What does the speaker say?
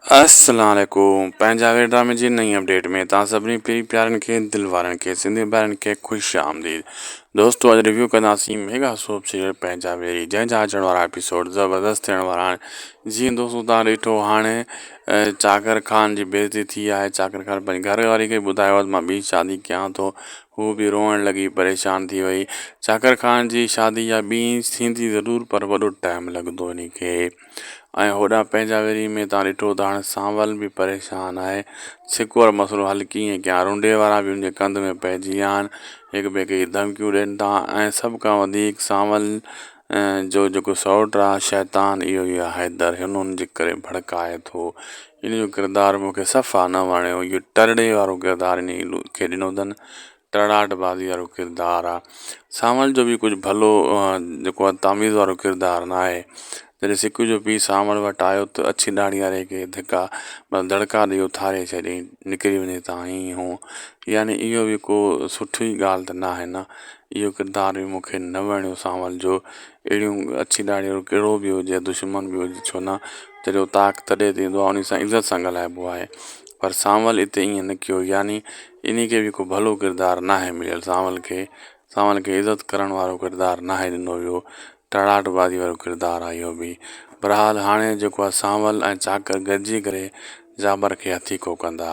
السلام عليڪم پنهنجا وير ڊرامي جي نئين اپڊيٽ ۾ توهان سڀني پري پيارن کي دل وارن کي سنڌي ڀائرن کي خوش آمديد دوستو اڄ ريويو ڪنداسين ميگا سوپ سيريل پنهنجا ويري جنهن جا اچڻ وارا اپيسوڊ زبردست ٿيڻ وارا آهن جيئن دوستو تان ڏٺو هاڻي چاڪر خان جي بيزتي ٿي آهي چاڪر خان پنهنجي گهر واري کي ٻڌايو ته مان ٻي شادي ڪيان ٿو هو به روئڻ لڳي پريشان ٿي وئي چاڪر خان جي شادي يا ٻي ٿيندي ضرور پر وڏو ٽائيم لڳندو ان کي ۽ هوڏانهن پنهنجا ويري ۾ تان ڏٺو ته هاڻي سانول به پريشان آهي. سڪ وارو مسئلو حل ڪيئن ڪيان؟ رونڊي وارا به ان جي ڪنڌ ۾ پئجي ويا آهن. هڪ ٻئي کي ڌمڪيون ڏين ٿا ۽ سڀ کان وڌيڪ سانول جو جيڪو سئوٽ آهي شيطان اهو ئي آهي حيدر. هن ان جي ڪري ڀڙڪائي ٿو. ان جو ڪردار مون کي صفا نه وڻيو. اهو ٽرڙي وارو ڪردار انهيء کي ڏنو اٿن. ٽڙاٽ بازي وارو ڪردار آ سانول جو به ڪجهه ڀلو جيڪو آ تاميز وارو ڪردار ناهي جڏهن سڪ جو پيء سانول وٽ آيو ته اڇي ڏاڙهي واري کي ڌڪا مطلب دڙڪا ڏئي اٿاري ڇڏيائين نڪري وڃي هتان هينئين هونئن يعني اهو به ڪو سٺي ڳالهه ته ناهي نه اهو ڪردار به مونکي نه وڻيو سانول جو اهڙيون اڇي ڏاڙهي وارو ڪهڙو به هجي يا دشمن به هجي ڇو نه جڏهن تاڪ تڏهن ته ايندو آ انهي سان عزت سان ڳالهائبو آهي پر سانول هتي ائين نه ڪيو يعني انهي کي به ڪو ڀلو ڪردار ناهي مليل سانول کي سانول کي عزت ڪرڻ وارو ڪردار ناهي ڏنو ويو ٽڙاٽ بازي وارو ڪردار آهي اهو به برحال هاڻي جيڪو آهي سانول ۽ چاڪر گڏجي ڪري جابر کي هٿي ڪو ڪندا.